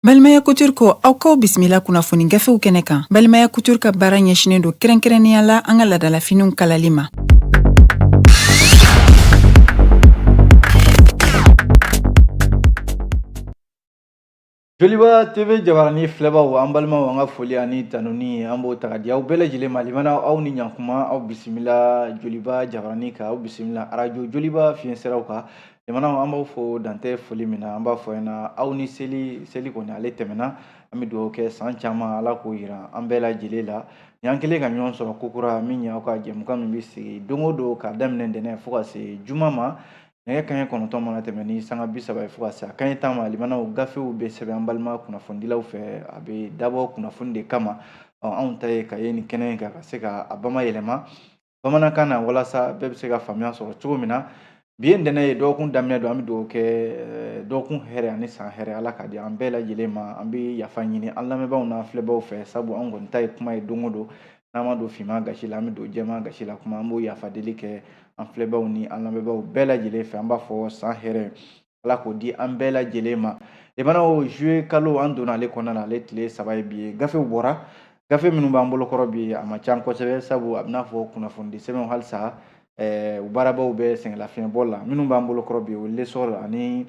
Balimaya Couture ko aw k'aw bisimila kunnafoni gafew kɛnɛ kan Balimaya Couture ka baara ɲɛsinen don kɛrɛnkɛrɛnnenya la an ka ladalafiniw kalali ma Joliba TV jabarani filɛbaaw an balimaw an ka foli ani tanuni an b'o ta ka di aw bɛɛ lajɛlen ma limana aw ni ɲankuma aw bisimila Joliba jabarani kan aw bisimila arajo Joliba fiɲɛ siraw kan limanaw an b'aw fo dantɛ foli min na an b'a fɔ ɲɛna aw ni seli seli kɔni ale tɛmɛna an bɛ dugawu kɛ san caman ala k'o yira an bɛɛ lajɛlen la ni an kɛlen ka ɲɔgɔn sɔrɔ kokura min y'aw ka jɛmukan min bɛ sigi don o don k'a daminɛ ntɛnɛn fo ka se juma ma nɛgɛ kanɲɛ kɔnɔntɔn mana tɛmɛ ni sanga bi saba ye fo ka se a kanɲɛ tan ma limanaw gafew bɛ sɛbɛn an balima kunnafonidilaw fɛ a bɛ dabɔ kunnafoni de kama anw ta ye ka yɛlɛn kɛnɛ in kan ka se ka a bamayɛlɛma bamanankan na walasa bɛɛ bɛ se ka faamuya sɔrɔ cogo min na bi ye ntɛnɛn ye dɔgɔkun daminɛ don an bɛ dugawu kɛ eh, dɔgɔkun hɛrɛ ani san hɛrɛ ala k'a di an bɛɛ lajɛlen ma an bɛ yafa ɲini an lamɛnbaaw n'an filɛbaaw fɛ sabu an kɔni ta ye kuma ye don o don n'an ma don finman gasi la an bɛ don jɛman gasi la kuma an b'o yafa deli kɛ an filɛbaaw ni an lamɛnbaaw bɛɛ lajɛlen fɛ an b'a fɔ san hɛrɛ ala k'o di an bɛɛ lajɛlen ma limanaw juillet kalo an donna ale kɔnɔna na ale tile saba ye bi ye gafew bɔra gafe minnu b'an bolo kɔrɔ bi a man ca kosɛbɛ sabu a bɛn'a fɔ kunnafonidi sɛbɛnw halisa u baarabaaw bɛ sɛgɛnlafiɲɛbɔ la minnu b'an bolo kɔrɔ bi o l'essor ani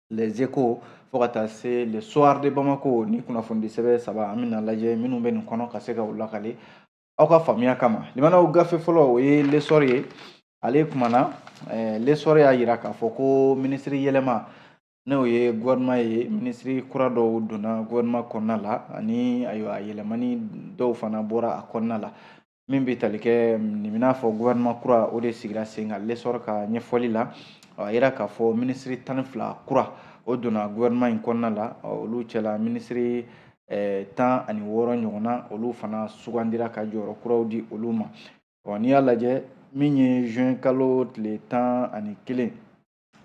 les échos fo ka taa se le soir de bamako nin kunnafonidi sɛbɛn saba an bɛna lajɛ minnu bɛ nin kɔnɔ ka se ka u lakale aw ka faamuya kama limanaw gafe fɔlɔ o ye l'essor ye ale kumana eh, l'essor y'a yira k'a fɔ ko minisiri yɛlɛma n'o ye gouvernement ye minisiri kura dɔw donna gouvernement kɔnɔna la ani ayiwa yɛlɛmani dɔw fana bɔra a kɔnɔna la min bɛ tali kɛ n'i bɛn'a fɔ gouvernement kura o de sigira sen kan L'Essor ka ɲɛfɔli la a yira k'a fɔ minisiri tan ni fila kura o donna gouvernement in kɔnɔna la olu cɛla minisiri tan ani wɔɔrɔ ɲɔgɔnna olu fana sugandira ka jɔyɔrɔ kuraw di olu ma n'i y'a lajɛ min ye juin kalo tile tan ani kelen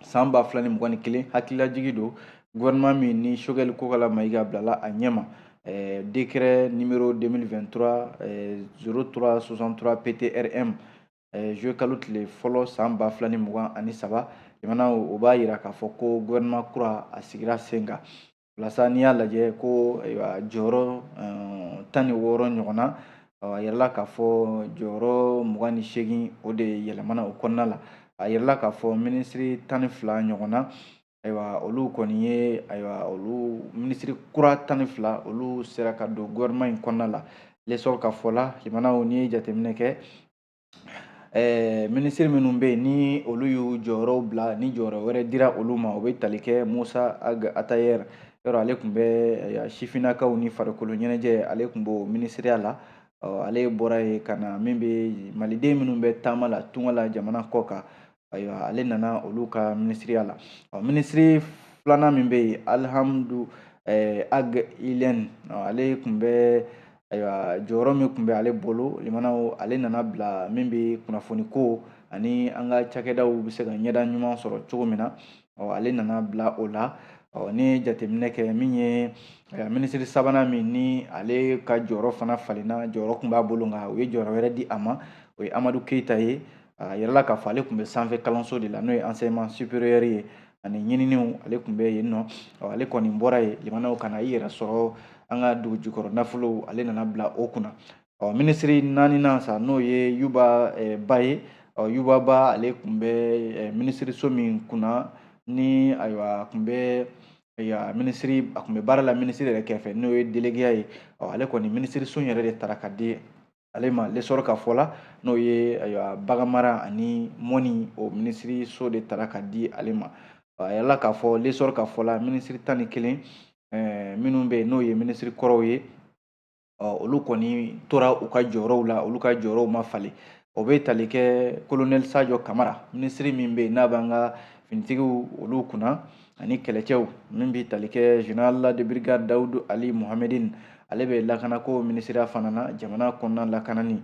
san ba fila ni mugan ni kelen hakililajigi don gouvernement min ni Choguel Kokalla Maïga bilala a ɲɛma eh, décret numéro 2023 eh, 0363 ptrm eh, juillet kalo tile fɔlɔ san ba fila ni mugan ani saba jamana o b'a yira k'a fɔ ko gouvernement kura a sigira sen kan walasa n'i y'a lajɛ ko ayiwa jɔyɔrɔ eh, tan ni wɔɔrɔ ɲɔgɔn na a yirala k'a fɔ jɔyɔrɔ mugan ni seegin o de yɛlɛmana o kɔnɔna la a yirala k'a fɔ minisiri tan ni fila ɲɔgɔn na ayiwa olu kɔni ye ayiwa olu minisiri kura tan ni fila olu sera ka don gouvernement in kɔnɔna la lesɔrɔ ka fɔ la limanaw n'i ye jateminɛ kɛ Ɛɛ minisiri minnu bɛ yen ni olu y'u jɔyɔrɔw bila ni jɔyɔrɔ wɛrɛ dira olu ma o bɛ tali kɛ musa ag atayɛrɛ yɔrɔ ale tun bɛ sifinnakaw ni farikolo ɲɛnajɛ ale tun b'o minisiriya la ale bɔra yen ka na min bɛ maliden minnu bɛ taama la tunga la jamana kɔ kan ayiwa ale nana olu ka minisiriya la ɔ minisiri filanan min bɛ yen alihamudu eh, ag ilɛn ale tun bɛ ayiwa jɔyɔrɔ min tun bɛ ale bolo limanaw ale nana bila min bɛ kunnafoni ko ani an ka cakɛdaw bɛ se ka ɲɛda ɲuman sɔrɔ cogo min na ɔ ale nana bila o la ɔ ni jateminɛ kɛ min ye eh, minisiri sabanan min ni ale ka jɔyɔrɔ fana falenna jɔyɔrɔ tun b'a bolo nka u ye jɔyɔrɔ wɛrɛ di a ma o ye amadu keyita ye A yirala k'a fɔ ale tun bɛ sanfɛ kalanso de la n'o ye enseignement supérieur ye ani ɲininiw ale tun bɛ yen ɔ ale kɔni bɔra yen limanaw ka na i yɛrɛ sɔrɔ an ka dugu jukɔrɔ nafolow ale nana bila o kunna ɔ minisiri naaninan sa n'o ye yuba eh, ba ye ɔ yuba ba ale tun bɛ eh, minisiri so min kunna ni ayiwa a tun bɛ ya minisiri a tun bɛ baara la minisiri yɛrɛ kɛrɛfɛ n'o ye delegeya ye ɔ ale kɔni minisiri so yɛrɛ de tara ka di ale ma lesɔrɔ ka fɔ la n'o ye ayiwa baganmara ani mɔnni o minisiri so de tara ka di ale ma a yirala k'a fɔ lesɔrɔ ka fɔ la minisiri tan ni kelen eh, minnu bɛ yen n'o ye minisiri kɔrɔw ye olu kɔni tora u ka jɔyɔrɔw la olu ka jɔyɔrɔw ma falen o bɛ tali kɛ kolonɛli sajɔ kamara minisiri min bɛ yen n'a b'an ka finitigiw olu kunna ani kɛlɛcɛw min bɛ tali kɛ général de brigade dawudu ali mohamedin ale bɛ lakanako minisiriya fana na jamana kɔnɔna lakanani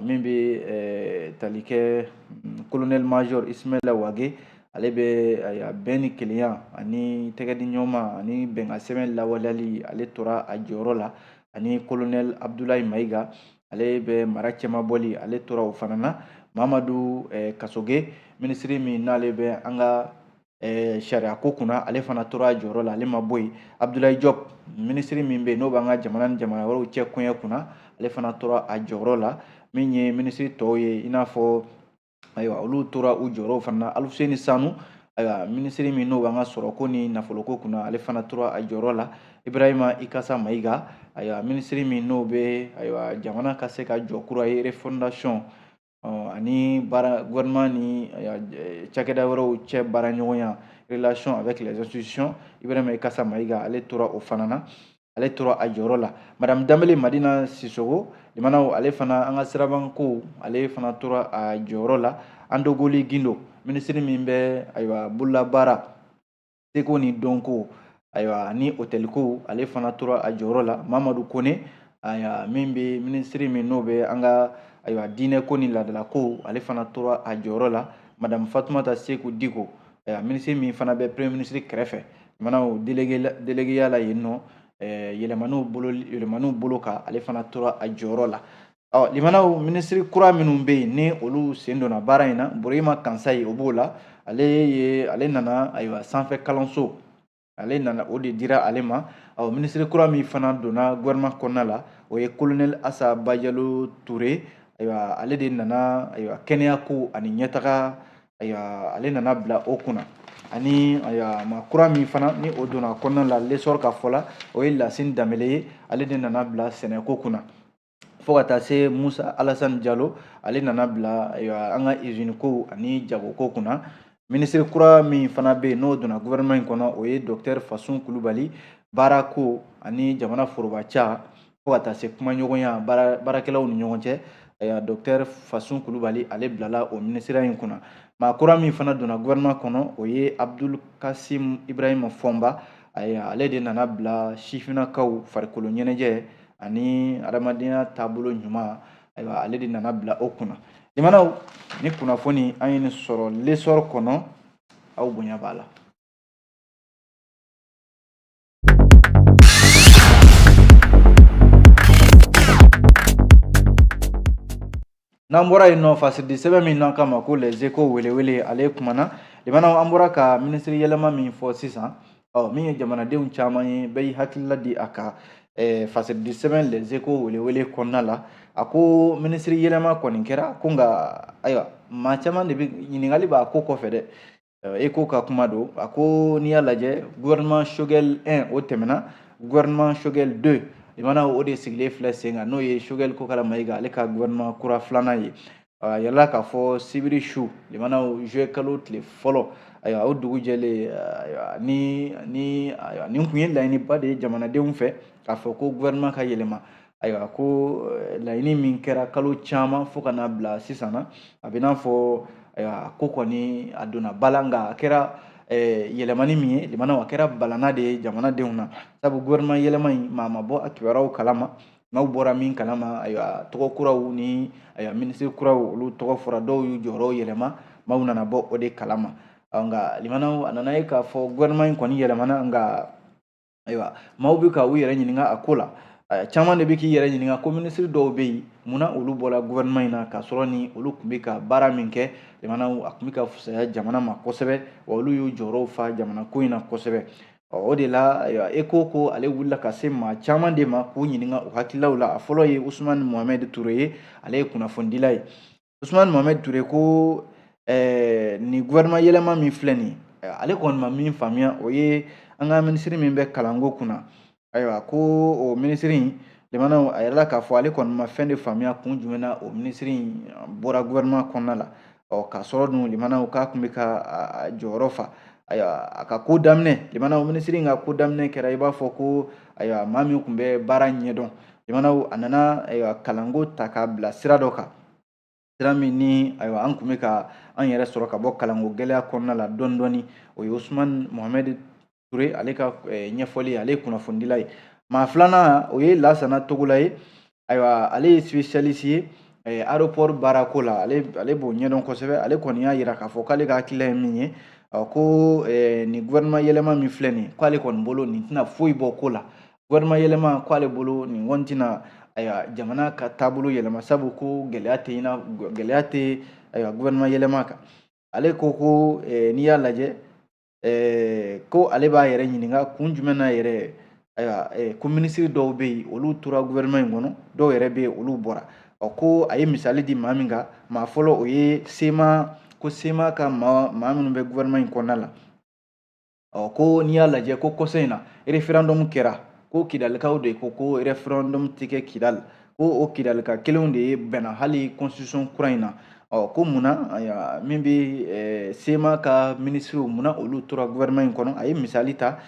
min bɛ eh, tali kɛ mm, colonel major ismaila wage ale bɛ eh, a bɛn ni kelenya ani tɛgɛdi ɲɔgɔnma ani bɛnkan sɛbɛn lawaleyali ale tora a jɔyɔrɔ la ani colonel abdulayi mayiga ale bɛ mara cɛmabɔli ale tora o fana na mamadu eh, kasoge minisiri min n'ale bɛ an ka Eh, sariya ko kunna ale fana tora a jɔyɔrɔ la ale ma bɔ yen abudulayi jɔp minisiri min bɛ yen n'o b'an ka jamana ni jamana wɛrɛw cɛ koɲɛ kunna ale fana tora a jɔyɔrɔ la min ye minisiri tɔw ye i n'a fɔ ayiwa olu tora u jɔyɔrɔw fana na alifuseni sanu ayiwa minisiri min n'o b'an ka sɔrɔko ni nafoloko kunna ale fana tora a jɔyɔrɔ la ibrahima ikasa mayiga ayiwa minisiri min n'o bɛ ayiwa jamana ka se ka jɔ kura ye refondation ani gouvernement ni cakɛda wɛrɛw cɛ baara ɲɔgɔnya relation avec les institutions Ibrahim Ikasa Mayiga ale tora o fana na ale tora a jɔyɔrɔ la madame Danbele Madina Sisoko limanaw ale fana an ka sirabanko ale fana tora a jɔyɔrɔ la Andogoli Gindo minisiri min bɛ ayiwa bololabaara seko ni dɔnko ayiwa ni otɛliko ale fana tora a jɔyɔrɔ la mamadu kone ayiwa min bɛ minisiri min n'o bɛ an ka ayiwa diinɛko ni laadalako ale fana tora a jɔyɔrɔ la madamu fatumata seku diko ayiwa minisiri min fana bɛ premier minisiri kɛrɛfɛ limanaw delegeya la yen nɔ yɛlɛmaniw bolo kan ale fana tora a jɔyɔrɔ la ɔ limanaw minisiri kura minnu bɛ yen ni olu sen donna baara in na buruyima kansayi o b'o la ale ye ale nana ayiwa sanfɛ kalanso ale nana o de dira ale ma ɔ minisiri kura min fana donna gouvernement kɔnɔna la o ye kolonɛli asa bajalo ture ayiwa ale de nana ayiwa kɛnɛyako ani ɲɛtaga ayiwa ale nana bila o kunna ani ayiwa maa kura min fana ni o donna kɔnɔna la lesɔrɔ ka fɔ la o ye lasini danbele ye ale de nana bila sɛnɛko kunna fo ka taa se musa alasani jalo ale nana bila an ka iziniko ani jagoko kunna minisiri kura min fana bɛ yen n'o donna gouvernement in kɔnɔ o ye docteur fasun kulubali baarako ani jamana foroba ca fo ka taa se kumaɲɔgɔnya baarakɛlaw ni ɲɔgɔn cɛ ayiwa docteur fasun kulubali ale bilala o minisiriya in kunna maa kura min fana donna gouvernement kɔnɔ o ye abdul kasim ibrahima fɔnba ayiwa ale de nana bila sifinnakaw farikolo ɲɛnajɛ ani adamadenya taabolo ɲuman ayiwa ale de nana bila o kunna limanaw nin kunnafoni an ye nin sɔrɔ lesɔrɔ kɔnɔ aw bonya b'a la n'an bɔra yen nɔ fasiridi sɛbɛn min n'an k'a ma ko les échos welewele ale kumana limanaw an bɔra ka minisiri yɛlɛma min fɔ sisan ɔ min ye jamanadenw caman ye bɛɛ y'i hakilila di a kan eh, fasiridi sɛbɛn les échos welewele kɔnɔna la a ko minisiri yɛlɛma kɔni kɛra ko nka ayiwa maa caman de bɛ ɲininkali b'a ko kɔfɛ dɛ échos ka kuma don a ko n'i y'a lajɛ gouvernement Choguel 1 o tɛmɛna gouvernement Choguel 2 limanaw o de sigilen filɛ sen kan n'o ye Choguel Kokala Mayiga ale ka gouvernement kura filanan ye a yɛlɛla k'a fɔ sibiri su limanaw juillet kalo tile fɔlɔ ayiwa o dugu jɛlen ayiwa ni ni ayiwa nin tun ye laɲiniba de ye jamanadenw fɛ k'a fɔ ko gouvernement ka yɛlɛma ayiwa ko eh, laɲini min kɛra kalo caman fo ka n'a bila sisan na a bɛ n'a fɔ ayiwa ko kɔni a donna ba la nka a kɛra eh, yɛlɛmani min ye lamɛnnaw a kɛra balana de ye jamanadenw na sabu gouvernement yɛlɛma in maa ma bɔ a kibaruyaw kalama maaw bɔra min kalama ayiwa tɔgɔ kuraw ni ayiwa minisiri kuraw olu tɔgɔ fɔra dɔw y'u jɔyɔrɔw yɛlɛma maaw nana bɔ o de kalama nka lamɛnnaw a nana ye k'a fɔ gouvernement in kɔni yɛlɛmana nka ayiwa maaw bɛ ka u yɛrɛ ɲininka a ko la caman de bɛ k'i yɛrɛ ɲininka ko minisiri dɔw bɛ yen munna olu bɔra gouvernement in na k'a sɔrɔ ni olu tun bɛ ka baara min kɛ lamɛnnaw a tun bɛ ka fusaya jamana ma kosɛbɛ wa olu y'u jɔyɔrɔw fa jamanako in na kosɛbɛ o de la eko ko ale wulila ka se maa caman de ma k'u ɲininka u hakililaw la a fɔlɔ ye usumani mohamɛd ture ye ale ye kunnafonidila ye usumani mohamɛd ture ko ɛɛ nin gouvernement yɛlɛma min filɛ nin ye ale kɔni ma min faamuya o ye an ka minisiri min bɛ kalanko kunna ayiwa ko o minisiri in lamɛnnaw a yirala k'a fɔ ale kɔni ma fɛn de faamuya kun jumɛn na o minisiri in bɔra gouvernement kɔnɔna la ɔ k'a sɔrɔ dun lamɛnnaw k'a tun bɛ k'a jɔyɔrɔ fa ayiwa a ka ko daminɛ lamɛnnaw minisiri in ka ko daminɛ kɛra i b'a fɔ ko ayiwa maa min tun bɛ baara ɲɛdɔn lamɛnnaw a nana ayiwa kalanko ta k'a bila sira dɔ kan sira min ni ayiwa an tun bɛ ka an yɛrɛ sɔrɔ ka bɔ kalanko gɛlɛya kɔnɔna la dɔɔni dɔɔni o ye usumani mohamɛdi ture ale ka eh, ɲɛfɔli ale ye kunnafonidila ye maa filanan o ye lasana togola ye ayiwa ale ye spécialiste ye eh, aéroport baarako la ale ale b'o ɲɛdɔn kosɛbɛ ale kɔni y'a yira k'a fɔ k'ale ka hakilila ye min ye ko eh, nin gouvernement yɛlɛma min filɛ nin ye k'ale kɔni bolo nin tɛna foyi bɔ ko la gouvernement yɛlɛma k'ale bolo nin kɔni tɛna ayiwa jamana ka taabolo yɛlɛma sabu ko gɛlɛya tɛ ɲina gɛlɛya tɛ ayiwa gouvernement yɛlɛma kan ale ko ko eh, n'i y'a lajɛ eh, ko ale b'a yɛrɛ ɲininka kun jumɛn na yɛrɛ ayiwa eh, ko minisiri dɔw bɛ yen olu tora gouvernement in kɔnɔ dɔw yɛrɛ bɛ yen olu bɔra ɔ ko a ye misali di maa min kan maa fɔlɔ o ye sema ko sema ka maa maa minnu bɛ gouvernement in kɔnɔna la ɔ ko n'i y'a lajɛ ko kɔsa in na référendum kɛra ko kidalikaw de ko ko référendum tɛ kɛ kidali ko o kidalika kelenw de ye banna hali constitution kura in na ɔ ko mun na min bɛ sema ka minisiriw mun na olu tora gouvernement in kɔnɔ a ye misali ta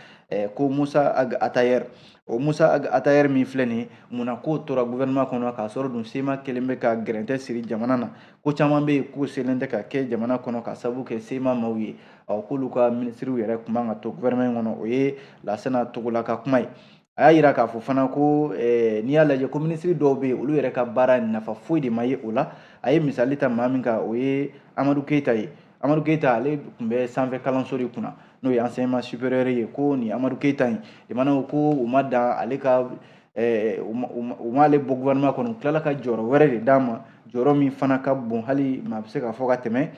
ko musa ag atayɛri o musa ag atayɛri min filɛ nin ye mun na k'o tora gouvernement kɔnɔ k'a sɔrɔ dun sema kelen bɛ ka gɛrɛntɛ siri jamana na ko caman bɛ yen k'o selen tɛ ka kɛ jamana kɔnɔ ka sabu kɛ sema maaw ye ɔ k'olu ka minisiriw yɛrɛ kun man ka to gouvernement kɔnɔ o ye lasana togola ka kuma ye a y'a yira k'a fɔ fana ko eh, n'i y'a lajɛ ko minisiri dɔw bɛ yen olu yɛrɛ ka baara nafa foyi de ma ye o la a ye misali ta maa min kan o ye amadu keyita ye amadu keyita ale tun bɛ sanfɛ kalanso de kunna n'o ye enseignement supérieur ye ko nin amadu keyita in jamanaw ko u ma dan ale ka eh, u m'ale bɔ gouvernement kɔnɔ u tilala ka jɔyɔrɔ wɛrɛ de d'a ma jɔyɔrɔ min fana ka bon hali maa bɛ se k'a fɔ ka tɛmɛ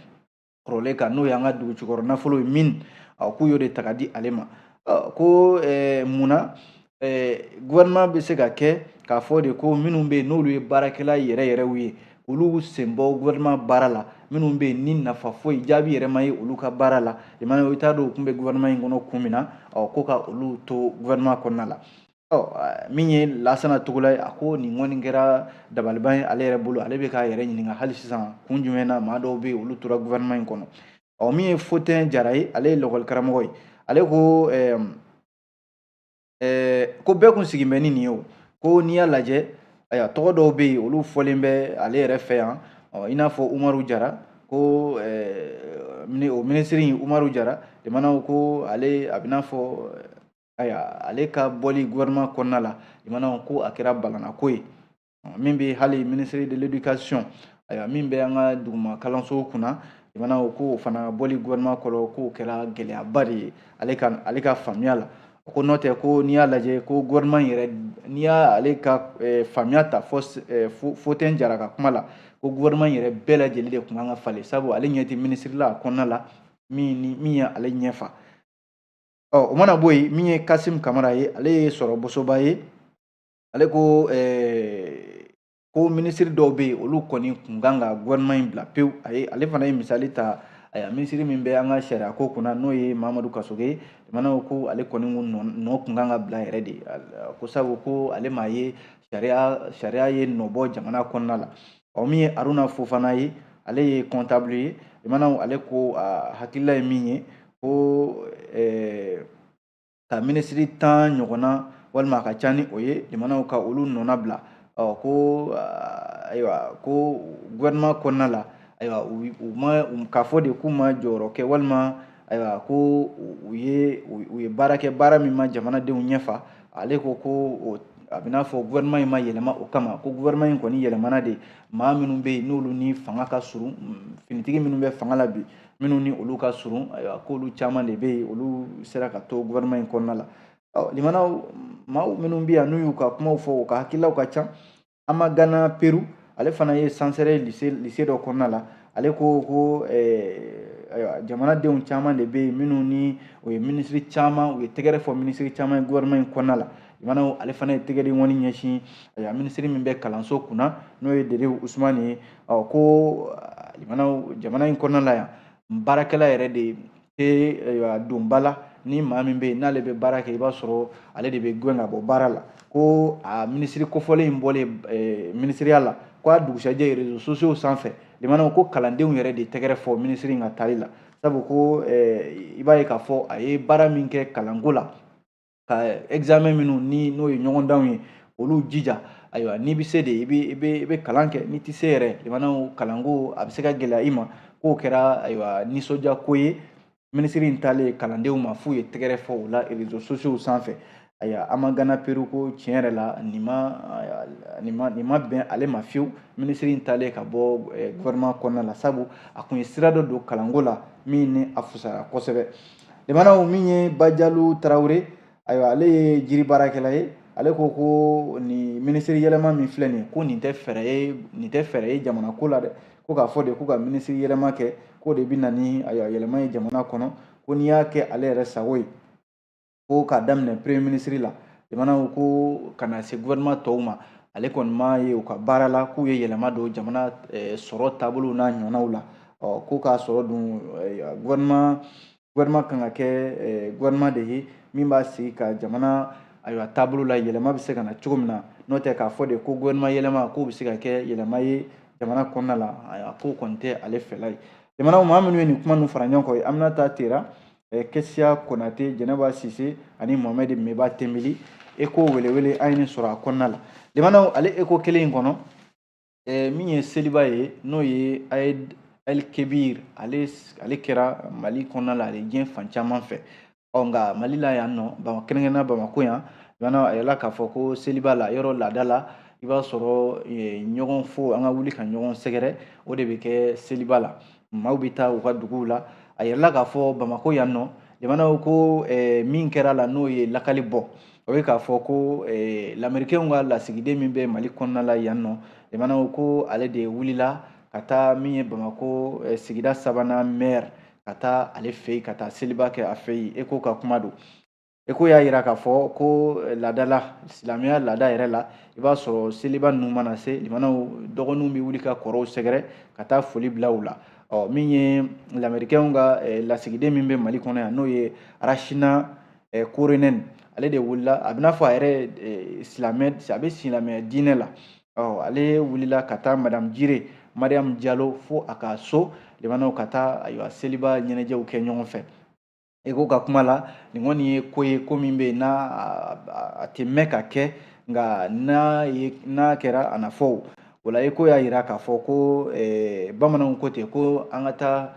kɔrɔlen kan n'o y'an ka dugu jukɔrɔ nafolo ye min k'u y'o de ta ka di ale ma ko mun na gouvernement bɛ se ka kɛ k'a fɔ de ko minnu bɛ yen n'olu ye baarakɛla yɛrɛ yɛrɛw ye olu sen bɔ gouvernement baara la minnu bɛ yen ni nafa foyi jaabi yɛrɛ ma ye olu ka baara la jamana i t'a dɔn u tun bɛ gouvernement in kɔnɔ kun min na ko ka olu to gouvernement kɔnɔna la min ye lasana togola ye a ko nin kɔni kɛra dabaliban ye ale yɛrɛ bolo ale bɛ k'a yɛrɛ ɲininka hali sisan kun jumɛn na maa dɔw bɛ yen olu tora gouvernement in kɔnɔ ɔ min ye Fotɛn Jara ye ale ye lakɔli karamɔgɔ ye ale ko ko bɛɛ kun sigin bɛ ni nin ye o ko n'i y'a lajɛ ayiwa tɔgɔ dɔw bɛ yen olu fɔlen bɛ ale yɛrɛ fɛ yan ɔ i n'a fɔ Umaru Jara ko o minisiri in Umaru Jara jamanaw ko ale a bɛ n'a fɔ ayiwa ale ka bɔli gouvernement kɔnɔna la jamana ko a kɛra balanako ye min bɛ hali ministre de l'éducation ayiwa min bɛ an ka duguma kalansow kunna jamanaw k'o fana bɔli gouvernement kɔnɔ k'o kɛra gɛlɛyaba de ye ale ka ale ka faamuya la ko n'o tɛ ko n'i y'a lajɛ ko gouvernement yɛrɛ n'i y'ale ka eh, faamuya ta fo eh, fotɛn jara ka kuma la ko gouvernement yɛrɛ bɛɛ lajɛlen de tun kan ka falen sabu ale ɲɛ tɛ minisiri la a kɔnɔna la min ni min ye ale ɲɛfa ɔ o mana bɔ yen min ye kasim kamara ye ale ye sogo bosobaa ye ale ko ɛɛ eh, ko minisiri dɔw bɛ yen olu kɔni kun kan ka gouvernement in bila pewu a ye ale fana ye misali ta ayiwa minisiri min bɛ an ka sariya ko kunna n'o ye mamadu kasoge jamanaw ko ale kɔni nɔ kun kan ka bila yɛrɛ de ko sabu ko ale m'a ye sariya sariya ye nɔ bɔ jamana kɔnɔna la ɔ min ye aruna fofana ye ale ye comptable ye jamanaw ale ko a hakilila ye min ye ko eh, ka minisiri tan ɲɔgɔnna walima a ka ca ni o ye jamanaw ka olu nɔna bila ɔ ko ayiwa ko gouvernement kɔnɔna la ayiwa u ma k'a fɔ de k'u ma jɔyɔrɔ kɛ walima ayiwa ko u ye u ye baara kɛ baara min ma jamanadenw ɲɛfa ale ko ko o a bɛ n'a fɔ gouvernement in ma yɛlɛma o kama ko gouvernement in kɔni yɛlɛmana de maa minnu bɛ yen n'olu ni fanga ka surun finitigi minnu bɛ fanga la bi minnu ni olu ka surun ayiwa k'olu caman de bɛ yen olu sera ka to gouvernement in kɔnɔna la ɔ limanaw maaw minnu bɛ yan n'u y'u ka kumaw fɔ u ka hakililaw ka ca amagana peru ale fana ye sansɛrɛ lise dɔ kɔnɔna la ale ko ko ayiwa jamanadenw caman de bɛ yen minnu ni o ye minisiri caman u ye tɛgɛrɛ fɔ minisiri caman ye gouvernement in kɔnɔna la jamana ale fana ye tɛgɛden ŋɔni ɲɛsin ayiwa minisiri min bɛ kalanso kunna n'o ye dedewu usumani ye ɔ ko jamana in kɔnɔna la yan baarakɛla yɛrɛ de tɛ don ba la ni maa min bɛ yen n'ale bɛ baara kɛ i b'a sɔrɔ ale de bɛ gɛn ka bɔ baara la ko a minisiri kofɔlen in bɔlen eh, minisiriya la ko a dugusajɛ rezo sosiyow sanfɛ jamanaw ko kalandenw yɛrɛ de tɛgɛrɛ fɔ minisiri in ka taali la sabu ko eh, i b'a ye k'a fɔ a ye baara min kɛ kalanko la ka examen minnu ni n'o ye ɲɔgɔndanw ye olu jija ayiwa n'i bɛ se de i bɛ i bɛ i bɛ kalan kɛ n'i tɛ se yɛrɛ jamanaw kalanko a bɛ se ka gɛlɛya i ma k'o kɛra ayiwa nisɔndiya ko ye minisiri in taalen kalandenw ma f'u ye tɛgɛrɛ fɔ o la rezo sosiyow sanfɛ ayiwa amagana peru ko tiɲɛ yɛrɛ la nin ma nin ma nin ma bɛn ale ma fiyewu minisiri in taalen ka bɔ gɔfɛrɛnaman kɔnɔna la sabu a kun ye sira dɔ don kalanko la min ni a fusara kosɛbɛ Jamanaw min ye Bajalo Tarawele, ayiwa ale ye jiri baarakɛla ye, ale ko ko nin minisiri yɛlɛma min filɛ nin ye, ko nin tɛ fɛɛrɛ ye, nin tɛ fɛɛrɛ ye jamana ko la dɛ, ko k'a fɔ de ko ka minisiri yɛlɛma kɛ, k'o de bɛ na ni ayiwa yɛlɛma ye jamana kɔnɔ, ko n'i y'a kɛ ale yɛrɛ sago ye, ko k'a daminɛ premier minisiri la, jamanaw ko ka na se gouvernement tɔw ma, ale kɔni m'a ye u ka baara la k'u ye yɛlɛma don jamana sɔrɔ taabolow n'a ɲɔgɔnnaw la. ɔ ko k'a sɔrɔ dun gouvernement gouvernement kan ka kɛ gouvernement de ye min b'a sigi ka jamana ayiwa taabolo la yɛlɛma bɛ se ka na cogo min na n'o tɛ k'a fɔ de ko gouvernement yɛlɛma k'o bɛ se ka kɛ yɛlɛma ye jamana kɔnɔna la a k'o kɔni tɛ ale fɛla ye jamanaw maa minnu ye nin kuma ninnu fara ɲɔgɔn kan aminata tera kɛsiya konate jɛnɛba sise ani mohamɛd meba tembeli eko welewele an ye nin sɔrɔ a kɔnɔna la jamanaw ale eko kelen in kɔnɔ eh, min ye seliba ye n'o ye aïd el kebir ale ale kɛra mali kɔnɔna la ale diɲɛ fan caman fɛ ɔ nka mali la yan nɔ kɛrɛnkɛrɛnnenya bamako yan jamana a yirala k'a fɔ ko seliba la yɔrɔ laada la i b'a sɔrɔ ɲɔgɔn fo an ka wuli ka ɲɔgɔn sɛgɛrɛ o de bɛ kɛ seliba la maaw bɛ taa u ka duguw la a yirala k'a fɔ bamakɔ yan nɔ jamanaw ko eh, min kɛra la n'o ye lakali bɔ o ye k'a fɔ ko eh, lamerikɛnw ka lasigiden min bɛ mali kɔnɔna la yan nɔ jamanaw ko ale de wulila ka taa min ye bamakɔ eh, sigida sabanan maire ka taa ale fɛ yen ka taa seliba kɛ a fɛ yen eko ka kuma don Eko y'a jira k'a fɔ ko eh, laadala silamɛya laada yɛrɛ la i b'a sɔrɔ seliba ninnu mana se limanaw dɔgɔninw bɛ wuli ka kɔrɔw sɛgɛrɛ ka taa foli bila u la ɔ min ye lamerikɛnw ka eh, lasigiden min bɛ mali kɔnɔ yan n'o ye arasina eh, koronɛni ale de wulila a bɛ n'a fɔ a yɛrɛ silamɛ a bɛ silamɛya diinɛ la ɔ ale wulila ka taa madamu jire mariyamu jalo fo a ka so limanaw ka taa ayiwa seliba ɲɛnajɛw kɛ ɲɔgɔn fɛ eko ka kuma la nin kɔni ye ko ye ko min bɛ yen n'a a tɛ mɛn ka kɛ nka n'a ye n'a kɛra a na fɔ o la eko y'a yira k'a fɔ ko bamananw ko ten ko an ka taa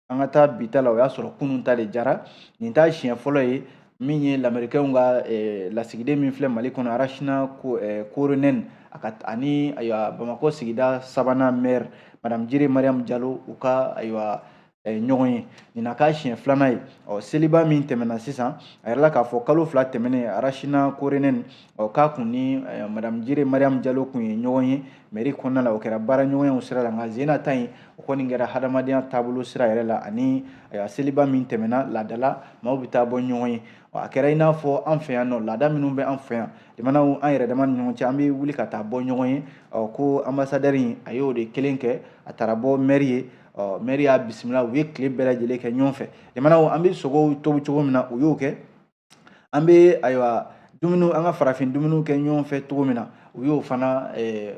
an ka taa bi ta la o y'a sɔrɔ kunun ta de diyara nin t'a siɲɛ fɔlɔ ye min ye lamerikɛnw ka lasigiden min filɛ mali kɔnɔ arasina koronɛni a ka ani ayiwa bamakɔ sigida sabanan maire madame jire mariam jalo u ka ayiwa ɲɔgɔn ye nin na k'a siɲɛ filanan ye ɔ seliba min tɛmɛna sisan a yirala k'a fɔ kalo fila tɛmɛnen arasina koronɛni ɔ k'a kun ni madamu jire mariam jalo kun ye ɲɔgɔn ye mɛri kɔnɔna la o kɛra baara ɲɔgɔnyaw sira la nka sen in na ta in o kɔni kɛra hadamadenya taabolo sira yɛrɛ la ani seliba min tɛmɛna laadala maaw bɛ taa bɔ ɲɔgɔn ye a kɛra i n'a fɔ an fɛ yan nɔ laada minnu bɛ an fɛ yan limanaw an yɛrɛ dama ni ɲɔgɔn cɛ an bɛ wuli ka taa bɔ ɲɔgɔn ye ɔ ko anbasadɛri in a y'o de kelen kɛ a taara bɔ mɛri ye ɔ mɛri y'a bisimila u ye tile bɛɛ lajɛlen kɛ ɲɔgɔn fɛ limanaw an bɛ sogow tobi cogo min na u y'o kɛ an bɛ ayiwa dumuniw an ka farafin dumuniw kɛ ɲɔgɔn fɛ cogo min na u y'o fana eh,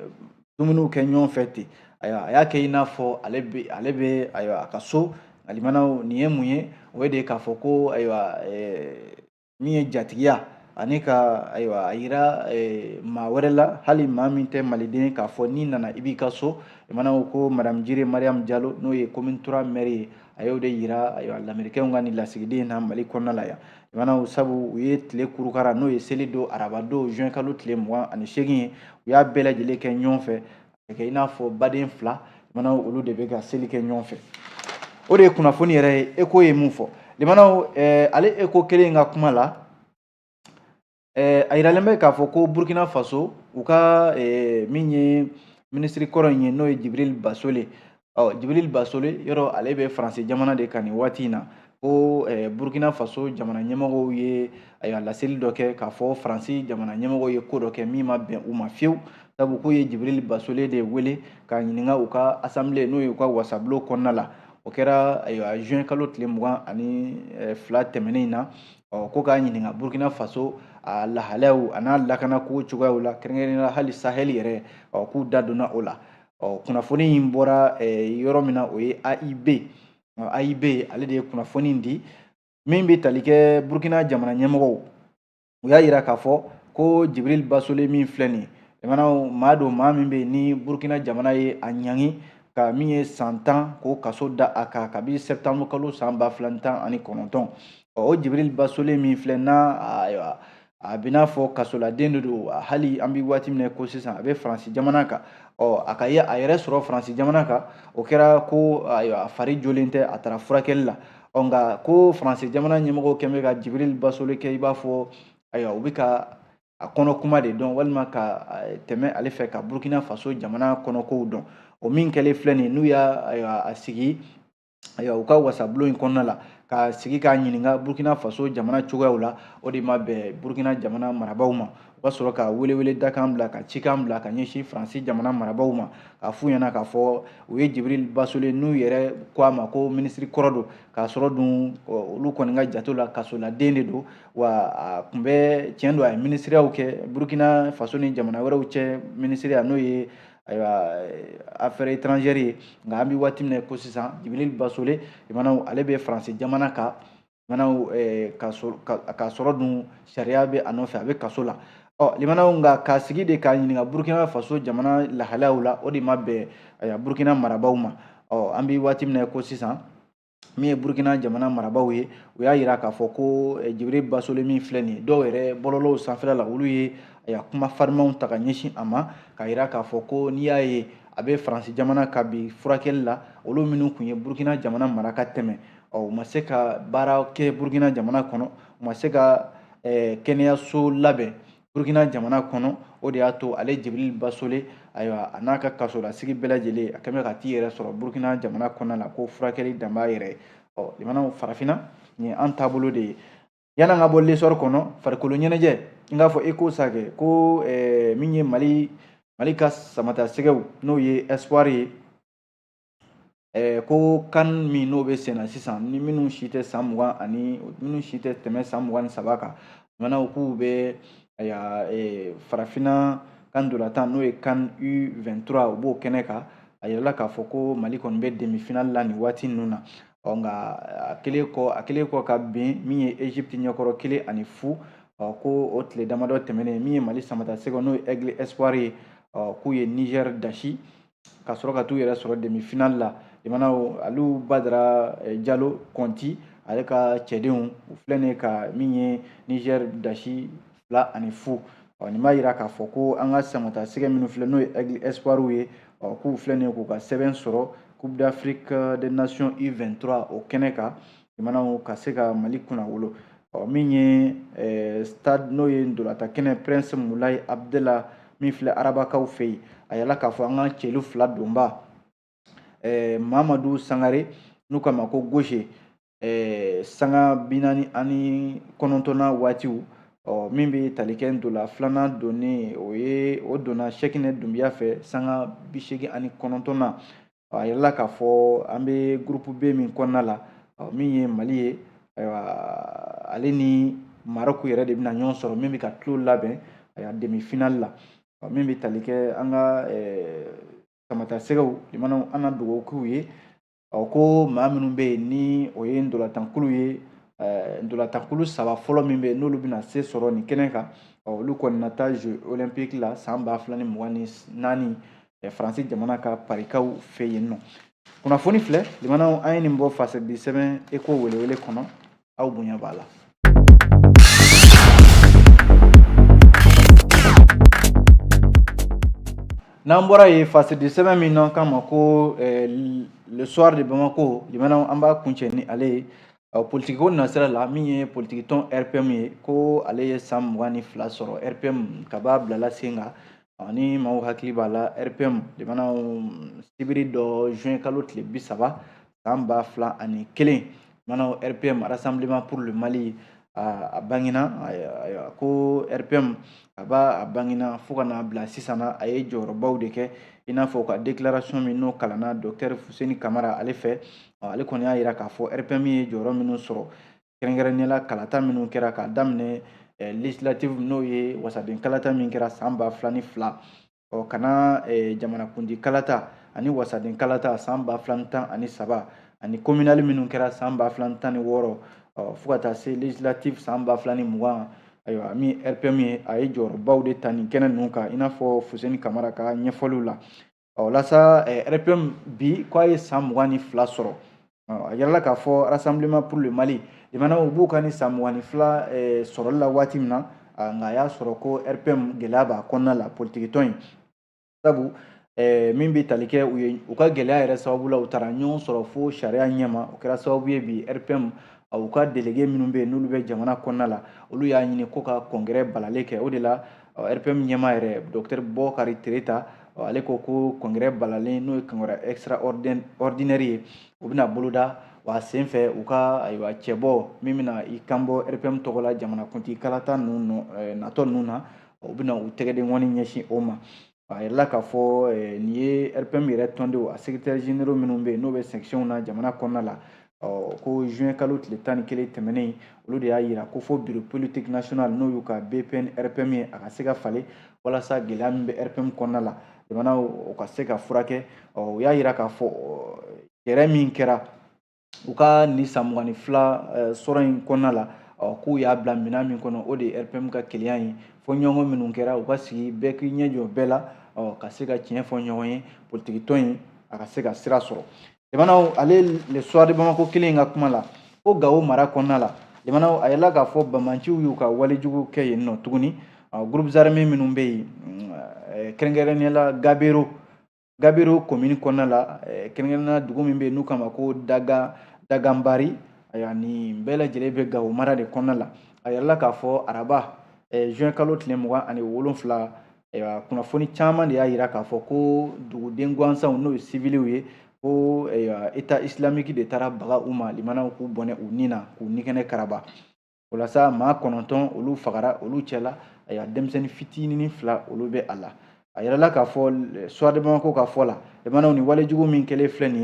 dumuniw kɛ ɲɔgɔn fɛ ten ayiwa a y'a kɛ i n'a fɔ ale bɛ ale bɛ ayiwa a ka so alimanaw nin ye mun ye o ye de k'a fɔ ko ayiwa eh, min ye jatigiya ani ka ayiwa a yira eh, maa wɛrɛ la hali maa min tɛ maliden k'a fɔ n'i nana i b'i ka so limanaw ko ko madamu jire mariyamu jalo n'o ye komini turuwa mɛri ye a y'o de yira ayiwa lamerikɛnw ka nin lasigiden in na mali kɔnɔna la yan limanaw sabu u ye tile kurukara n'o ye seli don araba don juin kalo tile mugan ani seegin ye u y'a bɛɛ lajɛlen kɛ ɲɔgɔn fɛ ka kɛ i n'a fɔ baden fila limanaw olu de bɛ ka seli kɛ ɲɔgɔn fɛ o de ye kunnafoni yɛrɛ ye eko ye min fɔ limanaw eh, ale eko kelen in ka kuma la eh, a yiralen bɛ k'a fɔ ko burkina faso u ka eh, min ye minisiri kɔrɔ in ye n'o ye jibril basole ɔ jibirili basole yɔrɔ ale bɛ faransi jamana de kan nin waati in na ko eh, burkina faso jamana ɲɛmɔgɔw ye ayiwa laseli dɔ kɛ k'a fɔ faransi jamana ɲɛmɔgɔw ye ko dɔ kɛ min ma bɛn u ma fiyewu sabu k'u ye jibirili basole de wele k'a ɲininka u ka asanbile n'o ye u ka wasabulon kɔnɔna la o kɛra ayiwa juin kalo tile mugan ani eh, fila tɛmɛnen in na ɔ ko k'a ɲininka burkina faso a lahalayaw an'a lakanako cogoyaw la kɛrɛnkɛrɛnnenya la hali sahɛli yɛrɛ ɔ k'u da donna o la ɔ kunnafoni in bɔra yɔrɔ min na o ye AIB AIB ale de ye kunnafoni in di min bɛ tali kɛ Burkina jamana ɲɛmɔgɔw u y'a jira k'a fɔ ko Jibril Basole min filɛ nin ye limanaw maa don maa min bɛ yen ni Burkina jamana ye a ɲangi ka min ye san tan k'o kaso da a kan kabi sɛptanburu kalo san ba fila ni tan ani kɔnɔntɔn o Jibril Basole min filɛ n'a a bɛ n'a fɔ kasoladen de don hali an bɛ waati min na ko sisan a bɛ faransi jamana kan ɔ a ka ye a yɛrɛ sɔrɔ faransi jamana kan o kɛra ko a fari jɔlen tɛ a taara furakɛli la ɔ nka ko faransi jamana ɲɛmɔgɔw kɛn bɛ ka jibirili basole kɛ i b'a fɔ ayiwa u bɛ ka a kɔnɔ kuma de dɔn walima ka tɛmɛ ale fɛ ka burukina faso jamana kɔnɔkow dɔn o min kɛlen filɛ nin n'u y'a a sigi ayiwa u ka wasabulon in kɔnɔna la k'a sigi k'a ɲininka burkina faso jamana cogoyaw la o de ma bɛn burkina jamana marabaaw ma u ka sɔrɔ ka welewele dakan bila ka cikan bila ka ɲɛsin faransi jamana marabaaw ma k'a f'u ɲɛna k'a fɔ u ye jibril basole n'u yɛrɛ ko a ma ko minisiri kɔrɔ don k'a sɔrɔ dun olu kɔni ka jate la kasoladen de don wa a tun bɛ tiɲɛ don a ye minisiriyaw kɛ burkina faso ni jamana wɛrɛw cɛ minisiriya n'o ye ayiwa affaire étrangère ye nka an bɛ waati min na ko sisan Jibril Basole limanaw ale bɛ Faransi jamana kan limanaw k'a sɔrɔ dun sariya bɛ a nɔfɛ a bɛ kaso la ɔ limanaw nka k'a sigi de k'a ɲininka Burkina Faso jamana lahalayaw la o de ma bɛn Burkina marabaaw ma ɔ an bɛ waati min na ko sisan min ye burukina jamana marabaaw ye u y'a jira k'a fɔ ko eh, jibiri basole min filɛ nin ye dɔw yɛrɛ bɔlɔlɔw sanfɛla la olu ye ayiwa kuma farimanw ta ka ɲɛsin a ma k'a jira k'a fɔ ko n'i y'a ye a bɛ faransi jamana kan bi furakɛli la olu minnu tun ye burukina jamana mara ka tɛmɛ ɔ u ma se ka baara kɛ burukina jamana kɔnɔ u ma se ka eh, kɛnɛyaso labɛn burukina jamana kɔnɔ o de y'a to ale jibiri basole ayiwa a n'a ka kasolasigi bɛɛ lajɛlen a kɛn bɛ ka t'i yɛrɛ sɔrɔ burukina jamana kɔnɔna la ko furakɛli dan b'a yɛrɛ ɔ limanaw farafinna nin ye an taabolo de ye yan'an ka bɔ l'Essor kɔnɔ farikolo ɲɛnajɛ n k'a fɔ e ko sa kɛ ko min ye mali ka samatasɛgɛw n'o ye espoir ye ko CAN min n'o bɛ senna sisan ni minnu si tɛ san mugan ani minnu si tɛ tɛmɛ san mugan ni saba kan limanaw k'u bɛ farafinna ka ntolatan n'o ye CAN U vingt-trois u b'o kɛnɛ kan a yirala k'a fɔ ko mali kɔni bɛ demifinali la nin waati ninnu na ɔ nka a kɛlen kɔ a kɛlen kɔ ka bin min ye egypte ɲɛkɔrɔ kelen ani fu ɔ ko o tile damadɔ tɛmɛnen min ye mali samatasɛgɛ n'o ye aigle espoir ye ɔ k'u ye niger dasi ka sɔrɔ ka t'u yɛrɛ sɔrɔ demi finali la jamana aliu badara eh, jalo kɔnti ale ka cɛdenw u filɛ nin ye ka min ye niger dasi fila ani fu ɔ nin b'a yira k'a fɔ ko an ka samatasɛgɛ minnu filɛ n'o ye aigle espoirw ye ɔ k'u filɛ nin ye k'u ka sɛbɛn sɔrɔ coupe d'afrique des nations u 23 o kɛnɛ kan jamanaw ka se ka mali kunna wolo ɔ min ye eh, stade n'o ye ntolatan kɛnɛ prince mulayi abdela min filɛ arabakaw fɛ yen a yirala k'a fɔ an ka celu fila donbaa eh, mamadu sangare n'u k'a ma ko goshe eh, sanga binani ani kɔnɔntɔnna waatiw ɔ min bɛ tali kɛ ntola filanan donni o donna sɛkinɛ dunbiya fɛ sanga bisegin ani kɔnɔntɔnna a yirala k'a fɔ an bɛ gurupu b min kɔnɔna la min ye mali ye ayiwa ale ni marɔku yɛrɛ de bɛna ɲɔgɔn sɔrɔ min bɛ ka tulon labɛn ayiwa demi finali la min bɛ tali kɛ an ka samatasɛgɛw jamanaw an na dugawu k'u ye ɔ ko maa minnu bɛ yen ni o ye ntolatankulu ye ntolatankulu saba fɔlɔ min bɛ yen n'olu bɛna se sɔrɔ nin kɛnɛ kan olu kɔni na taa jeux olympique la san ba fila ni mugan ni naani eh, faransi jamana ka parikaw fɛ yen n'o kunnafoni filɛ limanaw an ye nin bɔ fasidi sɛbɛn eko welewele kɔnɔ aw bonya b'a la n'an bɔra yen fasidi sɛbɛn min n'an k'a ma ko eh, le soir de bamako limanaw an b'a kuncɛ ni ale ye politikiko nasira la min ye politikitɔn rpm ye ko ale ye san mugan ni fila sɔrɔ rpm kab'a bilala sen kan ni maaw hakili b'a la rpm jamanaw sibiri don juin kalo tile bi saba san ba fila ani kelen jamanaw rpm rassemblement pour le mali a bangina ayiwa ko rpm kab'a bangina fo ka n'a bila sisan na a ye jɔyɔrɔbaw de kɛ i n'a fɔ ka déclaration min n'o kalanna docteur fuseni kamara ale fɛ ale kɔni y'a yira k'a fɔ rpm ye jɔyɔrɔ minnu sɔrɔ kɛrɛnkɛrɛnnenya la kalata minnu kɛra k'a daminɛ eh, legislative n'o ye wasaden kalata min kɛra san ba fila ni fila ɔ ka na eh, jamanakuntigi kalata ani wasaden kalata san ba fila ni tan ani saba ani communale minnu kɛra san ba fila ni tan ni wɔɔrɔ ɔ fo ka taa se legislative san ba fila ni mugan ayiwa min rpm ye a ye jɔyɔrɔbaw de ta nin kɛnɛ ninnu kan i n'a fɔ fuseni kamara ka ɲɛfɔliw la ɔ o la sa rpm bi k'a ye san mugan ni fila sɔrɔ a yirala k'a fɔ rassemblement pour le mali jamana u b'u ka nin san mugan ni fila sɔrɔli la waati min na nka a y'a sɔrɔ ko rpm gɛlɛya b'a kɔnɔna la politikitɔn in sabu Eh, min bɛ tali kɛ u ka gɛlɛya yɛrɛ sababu la u taara ɲɔgɔn sɔrɔ fo sariya ɲɛma o kɛra sababu ye bi rpm u ka delege minnu bɛ yen n'olu bɛ jamana kɔnɔna la olu y'a ɲini ko ka congrès balalen kɛ o de la rpm ɲɛmaa yɛrɛ dɔktɛri bɔkari tereta ale ko ko congrès balalen n'o ye congrès extraordinaire ye o bɛna boloda wa sen fɛ u ka ayiwa cɛbɔ min bɛna i kanbɔ rpm tɔgɔ la jamanakuntigi kalata ninnu natɔ ninnu na u bɛna u tɛgɛdenkɔni ɲɛsin o ma a yirala k'a fɔ eh, nin ye rpm yɛrɛ tɔndenw a secrétaires généraux minnu bɛ yen n'o bɛ section na jamana kɔnɔna la ko juin kalo tile tan ni kelen tɛmɛnen olu de y'a yira ko fo bureau politique national n'o y'u ka bpn rpm ye a ka se ka falen walasa gɛlɛya min bɛ rpm kɔnɔna la jamana o ka se ka furakɛ u y'a yira k'a fɔ yɛrɛ min kɛra u ka nin san mugan ni fila eh, sɔrɔ in kɔnɔna la k'u y'a bila minɛn min kɔnɔ o de ye rpm ka kelenya ye fɔ ɲɔgɔn minnu kɛra u ka sigi bɛɛ k'i ɲɛ jɔ bɛɛ la ka se ka tiɲɛ fɔ ɲɔgɔn ye politikitɔn in a ka se ka sira sɔrɔ jamanaw ale le soir de bamako kelen in ka kuma la ko gawo mara kɔnɔna la jamanaw a yirala k'a fɔ banbaanciw y'u ka walejugu kɛ yen nɔ tuguni groupes armés minnu bɛ yen kɛrɛnkɛrɛnnenya la gabero gabero komini kɔnɔna la kɛrɛnkɛrɛnnenya dugu min bɛ yen n'u k'a ma ko daga daganbari ayiwa nin bɛɛ lajɛlen bɛ gawo mara de kɔnɔna la a yirala k'a fɔ araba juin kalo tile mugan ani wolonfila ayiwa kunnafoni caman de y'a yira k'a fɔ ko duguden gansanw n'o ye siviliw ye ko état islamique de taara baga u ma limanaw k'u bɔnɛ u ni na k'u nikɛnɛ karaba o la sa maa kɔnɔntɔn olu fagara olu cɛla ayiwa denmisɛnnin fitinin fila olu bɛ a la a yirala k'a fɔ soir de bamako ka fɔ la jamanaw nin walejugu min kɛlen filɛ nin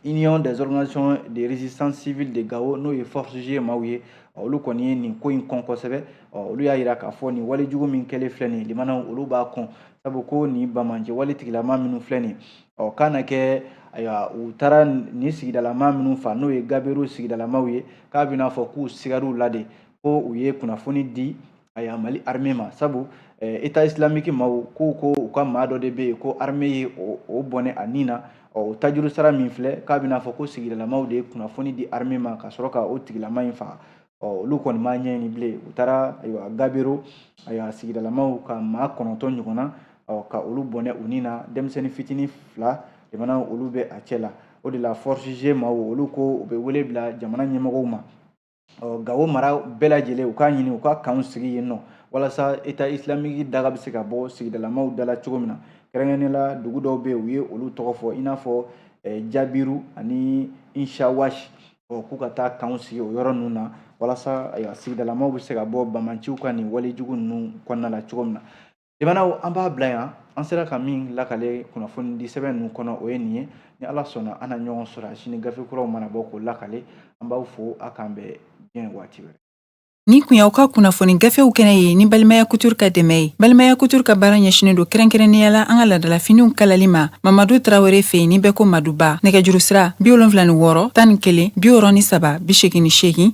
ye union des organisations de résistance civile de gao n'o ye force g maaw ye olu kɔni ye nin ko in kɔn kosɛbɛ olu y'a yira k'a fɔ nin walejugu min kɛlen filɛ nin ye limanaw olu b'a kɔn sabu ko nin banbaanci wale tigilama minnu filɛ nin ye k'a na kɛ ayiwa u taara nin sigidalama minnu fa n'o ye gabero sigidalamaw ye k'a bɛna fɔ k'u sigar'u la de ko u ye kunnafoni di ayiwa mali armée ma sabu eh, état islamique maaw ko u ka maa dɔ de bɛ yen ko armée ye o bɔnɛ a ni na o tajurusara min filɛ k'a bɛna fɔ ko sigidalamaw de ye kunnafoni di armée ma ka sɔrɔ ka o tigilama in faga olu kɔni m'a ɲɛɲini bilen u taara ayiwa gabero ayiwa sigidalamaw ka maa kɔnɔntɔn ɲɔgɔnna ka olu bɔnɛ u ni na denmisɛnnin fitinin fila jamana olu bɛ a cɛ la o de la force g maaw olu ko u bɛ wele bila jamana ɲɛmɔgɔw ma ɔ gawo mara bɛɛ lajɛlen u k'a ɲini u ka kanw sigi yen nɔ walasa état islamique daga bɛ se ka bɔ sigidalamaw da la cogo min na kɛrɛnkɛrɛnnenya la dugu dɔw bɛ yen u ye olu tɔgɔ fɔ i n'a fɔ eh, jabiru ani inshawashi ɔ k'u ka taa kanw sigi o yɔrɔ ninnu na walasa ayiwa sigidalamaw bɛ se ka bɔ banbaanciw ka nin walejugu ninnu kɔnɔna la cogo min na Limanaw an b'a bila yan an sera ka min lakale kunnafoni di sɛbɛn ninnu kɔnɔ o ye nin ye ni ala sɔnna an na ɲɔgɔn sɔrɔ a sini gafe kuraw mana bɔ k'o lakale an b'aw fo a k'an bɛn diɲɛ waati wɛrɛ Nin kun y'aw ka kunnafoni gafew kɛnɛ ye ni balimaya couture ka dɛmɛ ye balimaya couture ka baara ɲɛsinen don kɛrɛnkɛrɛnnenya la an ka ladalafiniw kalali ma mamadu tarawele fɛ yen ni bɛɛ ko maduba nɛgɛjuru sira bi wolonwula ni wɔɔrɔ tan ni kelen bi wɔɔrɔ ni saba bi segin ni segin